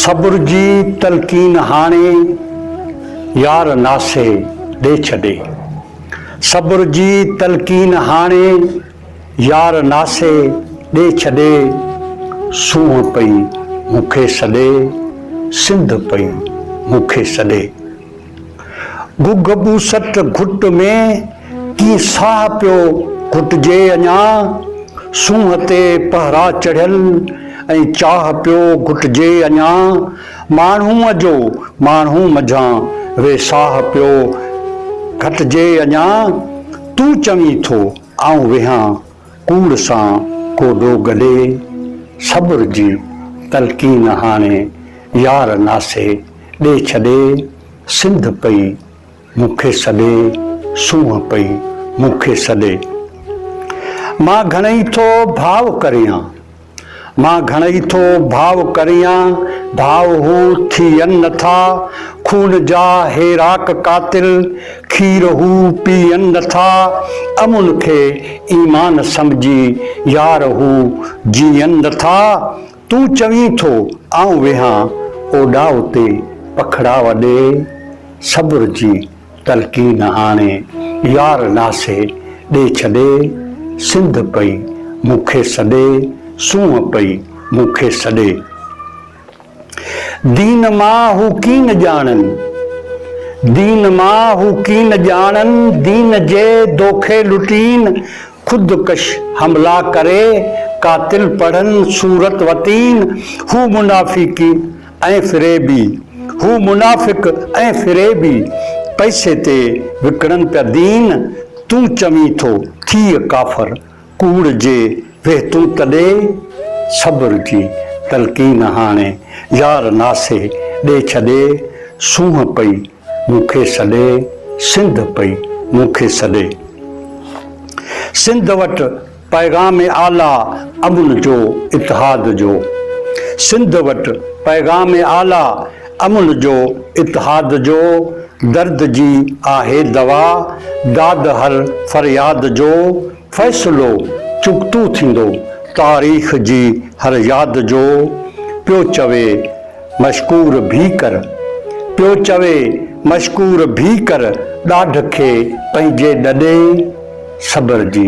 صبر جي تلقين هاڻي يار ناسي ڏي ڇڏي صبر جي تلقين هاڻي يار ناسي ڏي ڇڏي، سونهن پئي مون کي سڏي، سنڌ پئي مون کي سڏي. گگهه ٻوسٽ گهٽ ۾ ڪيئن ساهه پيو گهٽجي اڃا، سونهن تي پهرا چڙهيل ۽ چاهه پيو گهٽجي اڃا، ماڻهوء جو ماڻهو منجهان ويساهه پيو گهٽجي اڃا، تون چوين ٿو. آئون ويهان ڪوڙ سان ڪوڏو گڏي، صبر جي تلقين هاڻي يار ناسي ڏي ڇڏي، سنڌ پئي مون کي سڏي، سونهن پئي مون کي سڏي. مان گهڻئي ٿو ڀاء ڪريان. مان گهڻئي ٿو ڀاء ڪريان، ڀاء هو ٿيئن نٿا، خون جا هي راڪ قاتل، کير هو پيئن نٿا، امن کي ايمان سمجهي، يار هو جيئن نٿا، تون چوين ٿو آئون ويهان اوڏاء تي پکڙاء ڏي، صبر جي. تلقين آڻي يار ناسي ڏي ڇڏي سنڌ پئي مون کي سڏي سونهن پئي مون کي سڏي دين مان هو ڪين ڄاڻن دين مان هو ڪين ڄاڻن دين جي دوکي لٽين خود ڪش حملا ڪري قاتل پڙهن صورت وتين هو منافيقين ۽ فريبي، هو منافق ۽ فريبي، پئسي تي وڪڻن پيا دين، تون چوين ٿو ٿيء ڪافر، ڪوڙ جي ويهه تون ته ڏي، صبر جي تلقين هاڻي يار ناسي، ڏي ڇڏي، سونهن پئي مون کي سڏي، سنڌ پئي مون کي سڏي. سنڌ وٽ. پيغام اعليٰ امن جو اتحاد جو سنڌ وٽ پيغام اعليٰ امن جو اتحاد جو درد جي آهي دوا داد هر فرياد جو فيصلو چغتو ٿيندو تاريخ جي هر ياد جو پيو چوي مشڪور ڀي ڪر پيو چوي مشڪور ڀي ڪر ڏاڍ کي پنهنجي ڏڏي صبر جي